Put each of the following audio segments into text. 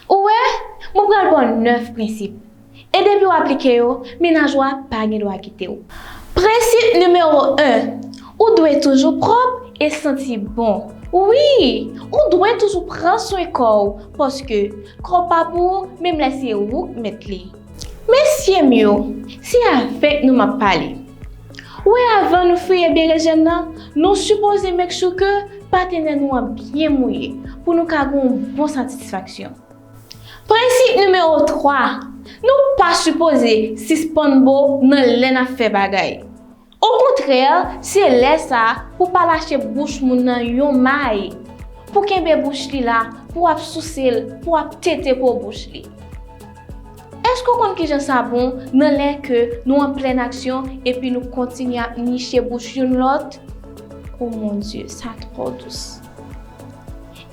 Ou wè, mwen pral ba w nèf prensip, e depi w aplike yo, mennaj ou a pa gen dwa kite w. Prensip nimewo 1, Ou dwe toujou pwòp e santi bon. Wi! Ou dwe toujou pran swen kò w, paske kò w pa pou ou menm lè se ou k mèt li. Mesyem yo, se avek nou map pale. Ou wè avan nou fouye berejèn nan, nou sipoze make sure ke patenè nou an byen mouye pou nou ka gen yon bon satisfaksyon. Prensip nimewo 3, nou pa sipoze sispann bo nan lè nap fè bagay. Okontrè, se lè sa a pou palache bouch moun nan yon may, pou kenbe bouch li la, pou ap souse l, pou ap tete po bouch li. Èske w konn kijan sa bon nan lè ke nou an plèn aksyon epi nou kontinye ap niche bouch youn lòt? O mon Dye, sa twò dous.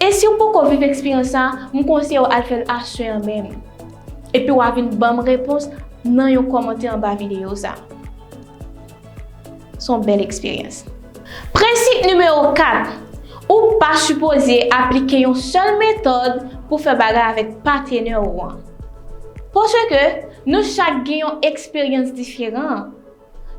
E si w poko viv eksperyans sa, m konseye w al fè l aswè an menm. Epi wa vin banm repons nan yon kòmantè anba videyo sa. Son bèl eksperyans. Prensip nimewo 4, Ou pa sipoze aplike yon sèl metòd pou fè bagay avèk patenè ou an. Paske nou chak gen yon eksperyans diferan.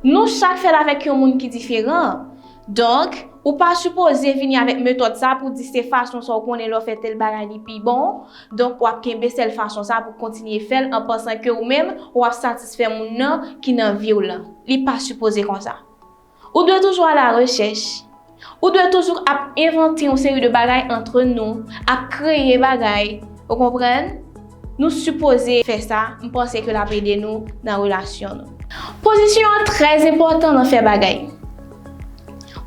Nou chak fèt avèk yon moun ki diferan. Donk, ou pa sipoze vini avèk metòd sa pou di se fason sa ou konnen lè w fè tèl bagay li pi bon, donk w ap kenbe sèl fason sa pou kontinye fè l an pansan ke ou menm ou ap satisfè moun nan ki nan vi w lan. Li pa sipoze konsa. Ou dwe toujou alarechèch. Ou dwe toujou ap envante yon seri de bagay antre nou, ap kreye bagay, ou konprann? Nou sipoze fè sa, m panse ke l ap ede nou nan relasyon nou. Pozisyon an trè enpòtan nan fè bagay.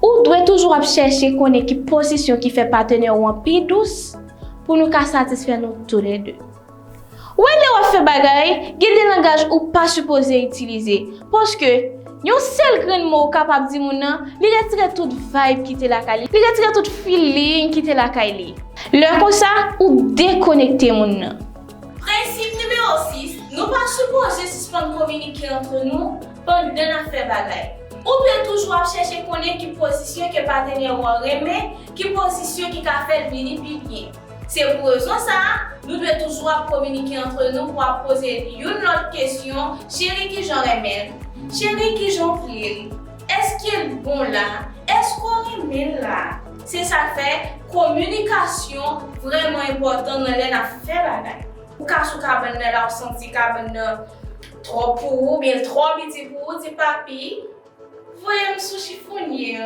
Ou dwe toujou ap chèche konnen ki pozisyon ki fè patenè ou an pi dous pou nou ka satisfè nou toulède. Wè lè wap fè bagay, gen de langaj ou pa sipoze itilize. Paske, yon sèl grenn mo ou kapab di moun nan, li retire tout vayb ki te lakay li, li retire tout feeling ki te lakay li. Lè konsa, ou dekonekte moun nan. Prensip nimewo 6, Nou pa sipoze sispann kominike antre nou pandan nap fè bagay. Ou dwe toujou ap chèche konnen ki pozisyon ke patenè ou an renmen, ki pozisyon ki ka fèl vini pi byen. Se pou rezon sa a, nou dwe toujou ap kominike antre nou pou ap poze youn lòt kesyon, Cheri kijan w renmen l? Cheri kijan w vle l? Èske l bon la? Èske w renmen l la? Se sa k fè, kominikasyon vrèman enpòtan nan lè n ap fè bagay. Ou ka sou kabann nan la ou santi kabann nan twòp pou ou oubyen l twò piti pou ou, di papi, voye m sou chifonye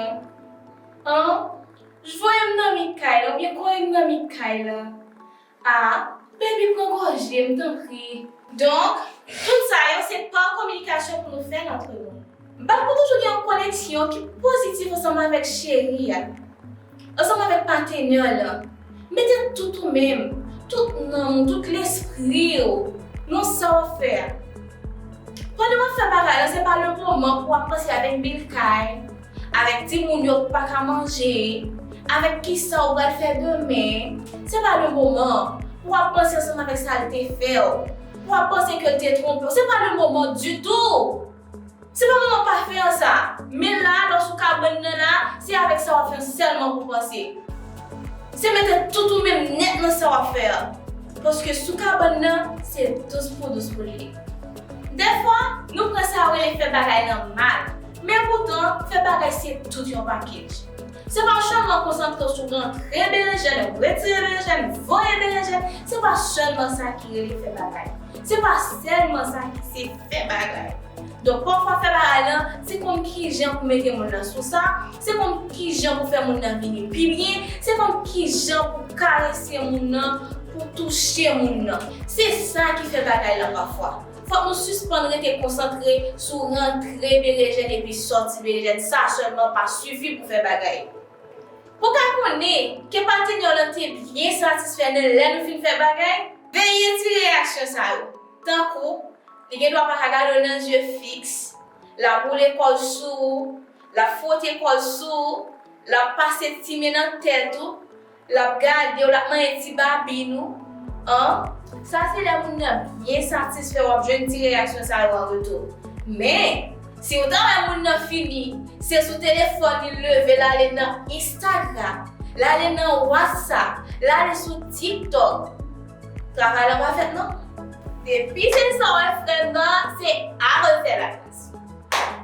an. J voye m nan mi kay la oubyen kole m nan mi kay la a Baby pran gòje m tanpri. Donk, tout sa yo se pa kominikasyon pou nou fè l antre nou. M pa t ko toujou gen yon koneksyon ki pozitif ansanm avèk cheri a, ansanm avèk patenè w lan. Mete tout ou menm, tout nanm ou, tout lespri w nan sa w ap fè a. Pandan w ap fè bagay lan se pa le moman pou w ap panse avèk bil kay, Avèk timoun yo k paka manje, avèk kisa ou pral fè demen, se pa le moman an pou wap panse ansanm avèk sa l te fè w, pou wap panse ke l te twonpe w, se pa le moman ditou! Se pa moman pafè an sa! Men la a, lè w sou kabann nan la a, se avèk sa wap fè an sèlman pou w panse. Se mete tout ou menm nèt nan sa wap fè an, paske sou kabann nan, se dous pou dous pou l ye. Dèfwa, nou pran sa yo rele fè bagay lan mal. Men poutan, fè bagay se tout yon pakej. Se pa sèlman konsantre w sou rantre berenjèn, retire berenjèn, voye berenjèn, se pa sèlman sa ki rele fè bagay. Se pa sèlman sa ki se fè bagay. Donk pafwa fè bagay lan, se konn kijan pou mete moun lan sou sa, se konn kijan pou fè moun lan vini pi byen, se konn kijan pou karese moun lan, pou touche moun lan. Se sa ki fè bagay lan pafwa. Fòk nou sispann rete konsantre sou rantre berejèn epi sòti berejèn sa sèlman pa sifi pou fè bagay. Pou ka konnen ke patenèw lan te byen satisfè nan lè nou fin fè bagay, veye ti reyaksyon sa yo tankou li gen dwa pa ka gade w nan zye fiks, lap woule kò l sou ou, lap fwote kò l sou ou, lap pase ti men nan tèt ou, Lap gadew lap manyen ti babin ou an. Sa se lè moun nan byen satisfè wap jwenn ti reyaksyon sa yo an retou. Men, si ou ta wè moun nan fini, se sou telefòn li leve lale nan Instagram, lale nan Whatsapp, lale sou TikTok. Travay lan pa fèt non. Depi se sa ou wè frèm nan, se a refè la plas.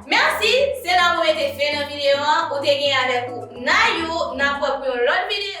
Merci, se la mwen mete fen nan video an, ou te gen avèk ou Nayou, nap wè pou yon lòt video.